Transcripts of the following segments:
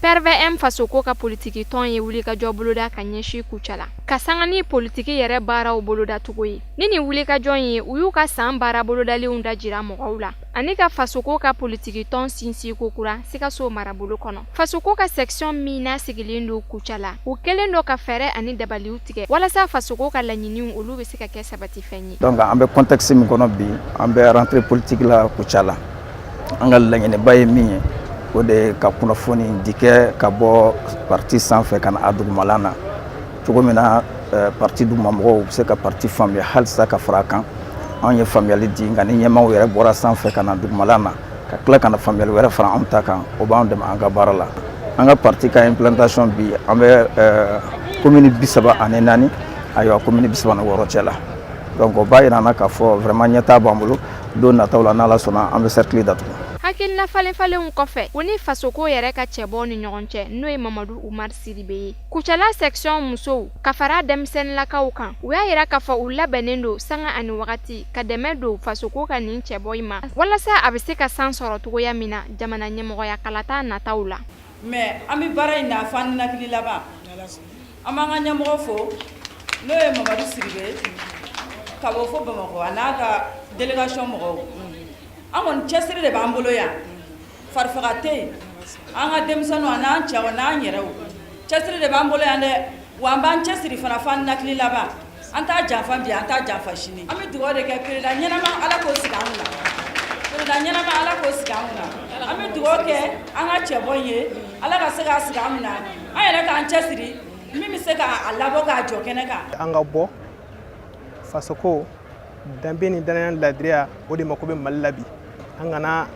PRVM fasoko ka politigi tɔn ye wulikajɔ boloda ka ɲɛsin Kucala ka sanga ni politigi yɛrɛ baaraw bolodacogo ye ni nin wulikajɔ in ye u y'u ka san baara bolodalenw dajira mɔgɔw la ani ka fasoko ka politigi tɔn sinsin kokura sikaso marabolo kɔnɔ fasoko ka sɛkisɔn min n'a sigilen don Kucala u kɛlen don ka fɛɛrɛ ani dabaliw tigɛ walasa fasoko ka laɲiniw olu bɛ se ka kɛ sabatifɛn ye Donc an bɛ contexte min kɔnɔ bi an bɛ rentrée politique la Kucala la an ka laɲiniba ye min ye o de ye ka kunnafoni di kɛ ka bɔ parti sanfɛ ka na a dugumala na cogo min na euh, parti duguma mɔgɔw bɛ se ka parti faamuya halisa ka fara a kan anw ye faamuyali di nka ni ɲɛmaaw yɛrɛ bɔra sanfɛ ka na dugumala na ka tila ka na faamuyali wɛrɛ fara anw ta kan o b'an dɛmɛ an ka baara la an ka parti ka implantation bi an bɛ eh, commune bi saba ani naani ayiwa commune bi saba ni wɔɔrɔ cɛ la donc o b'a yira an na k'a fɔ vraiment ɲɛtaa b'an bolo don nataw la n'ala sɔnna an bɛ cercle datugu hakilina falenfalenw kɔfɛ u ni fasoko yɛrɛ ka cɛbɔ ni ɲɔgɔn cɛ n'o ye mamadu umar sidibe ye Kucala sɛkisɔn musow ka fara denmisɛnninlakaw kan u y'a yira k'a fɔ u labɛnnen don sanga ani wagati ka dɛmɛ don fasoko ka nin cɛbɔ in ma walasa a bɛ se ka san sɔrɔ cogoya min na jamana ɲɛmɔgɔya kalata nataw la mais an bɛ baara in na fo an ninakili laban an b'an ka ɲɛmɔgɔ fo n'o ye mamadu sidibe ka bɔ fo bamakɔ a n'a ka délégation mɔgɔw an kɔni cɛsiri de b'an bolo yan farifaga tɛ yen, an ka denmisɛnninw a n'an cɛw a n'an yɛrɛw cɛsiri de b'an bolo yan dɛ, wa an b'an cɛsiri fana fo an ninakili laban, an t'a janfa bi an t'a janfa sini, an bɛ dugawu de kɛ perezdan ɲɛnama Ala k'o sigi an kunna, perezdan ɲɛnama Ala k'o sigi an kunna, an bɛ dugawu kɛ an ka cɛbɔ in ye Ala ka se k'a sigi an kunna, an yɛrɛ k'an cɛsiri min bɛ se k'a labɔ k'a jɔ kɛnɛ kan. An ka bɔ fasoko danbe ni danaya ladiriya o de mako bɛ mali la bi an kana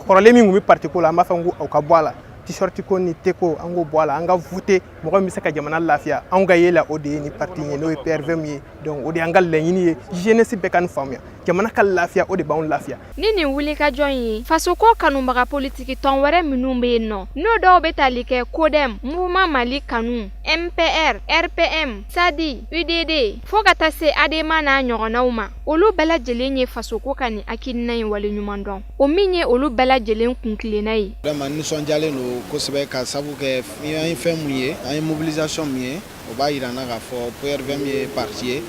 kɔrɔlen min tun bɛ parti ko la an b'a fɔ ko aw ka bɔ a la t-shirt ko ni te ko an k'o bɔ a la an ka voter mɔgɔ min bɛ se ka jamana lafiya anw ka ye la o de ye nin parti in ye n'o ye prvm ye donc o de y'an ka laɲini ye jeunesse bɛɛ ka nin faamuya jamana ka lafiya o de b'anw lafiya Ni nin wulikajɔ in ye fasoko kanubaga politiki tɔn wɛrɛ minnu bɛ yen nɔ n'o dɔw bɛ tali kɛ codem mouvement mali kanu mpr rpm sadi udd fo ka taa se adema n'a ɲɔgɔnnaw ma olu bɛɛ lajɛlen ye fasoko ka nin hakilina in waleɲuman dɔn o min ye olu bɛɛ lajɛlen kuntilenna ye vraiment nisɔndiyalen don kosɛbɛ ka sabu kɛ an ye fɛn min ye an ye mobilisation min ye o b'a yira an na k'a fɔ PRVM ye parti ye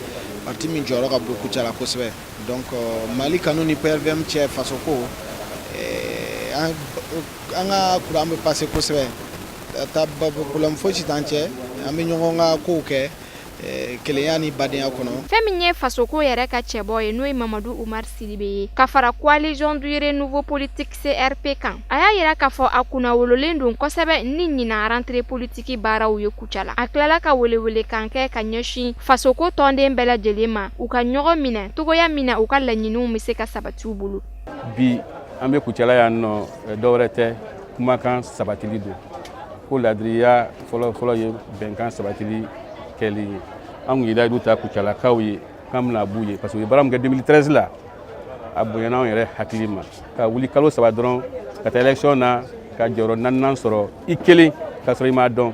parti min jɔyɔrɔ ka bon Kucala kosɛbɛ donc euh, Mali kanu ni PRVM cɛ fasoko eh, an ka courant bɛ passer kosɛbɛ ta problème fosi t'an cɛ an bɛ ɲɔgɔn ka kow kɛ eh, kelenya ni badenya kɔnɔ fɛn min ye fasoko yɛrɛ ka cɛbɔ ye n'o ye mamadu umar sidibe ye ka fara coalition du renouveau politique CRP kan a y'a yira k'a fɔ a kunna wololen don kosɛbɛ ni ɲinan rentrée politique baaraw ye kuca la a tilala ka welewele kan kɛ ka ɲɛsin fasoko tɔnden bɛɛ lajɛlen ma u ka ɲɔgɔn minɛ cogoya min na u ka laɲiniw bɛ se ka sabati u bolo bi an bɛ kucala yan nɔ eh, dɔwɛrɛ tɛ kumakan sabatili don ko ladiriya fɔlɔfɔlɔ ye bɛnkan sabatili kɛli ye an kun ye layidu ta kucalakaw ye k'an bɛna b'u ye parce que u ye baara min kɛ 2013 la a bonyana anw yɛrɛ hakili ma ka wuli kalo saba dɔrɔn ka taa élection na ka jɔyɔrɔ naaninan sɔrɔ i kelen k'a sɔrɔ i m'a dɔn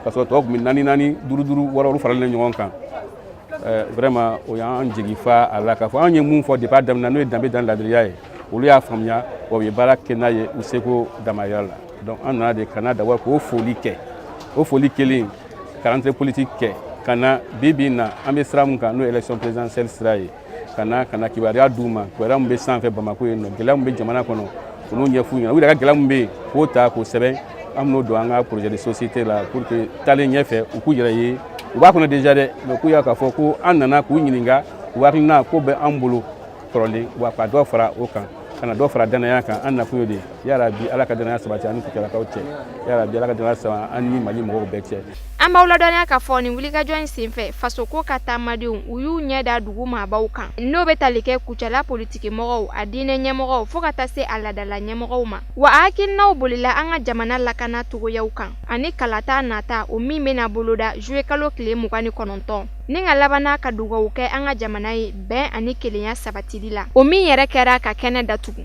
k'a sɔrɔ tɔw tun bɛ naani naani duuru duuru wɔɔrɔ olu faralen ɲɔgɔn kan eh, vraiment o y'an jigi fa a la k'a fɔ anw ye mun fɔ depuis a daminɛ n'o ye danbe danaya ladiriya ye olu y'a faamuya wa u ye baara kɛ n'a ye u seko damayira la donc an nana de ka na d'abord k'o foli kɛ o foli kɛlen ka rentrée politique kɛ ka na bi bi na an bɛ sira min kan n'o élection présidentielle sira ye ka na ka na kibaruya d'u ma kibaruya min bɛ sanfɛ bamako yen nɔ gɛlɛya min bɛ jamana kɔnɔ olu ɲɛf'u ɲɛna u yɛrɛ ka gɛlɛya min bɛ yen k'o ta k'o sɛbɛn an bɛn'o don an ka projet de société la pour que taalen ɲɛfɛ u k'u yɛrɛ ye u b'a kɔnɔ déjà dɛ mais k'u y'a k'a fɔ ko an nana k'u ɲininka u hakilina ko bɛ an bolo kɔrɔlen wa ka dɔ fara o kan ka na dɔ fara danaya kan an nakun y'o de yarabi ala ka danaya sabati an ni kucalakaw cɛ yarabi ala ka danaya sabati an ni mali mɔgɔw bɛɛ cɛ an b'aw ladɔnniya k'a fɔ nin wulikajɔ in senfɛ fasoko ka taamadenw u y'u ɲɛ da dugu maabaw kan n'o bɛ tali kɛ kucala politikimɔgɔw a diinɛ ɲɛmɔgɔw fo ka taa se a ladala ɲɛmɔgɔw ma wa a hakilinaw bolila an ka jamana lakana cogoyaw kan ani kalata nata o min bɛna boloda juillet kalo tile mugan ni kɔnɔntɔn Ni ka laban n'a ka dugawu kɛ an ka jamana ye bɛn ani kelenya sabatili la o min yɛrɛ kɛra ka kɛnɛ datugu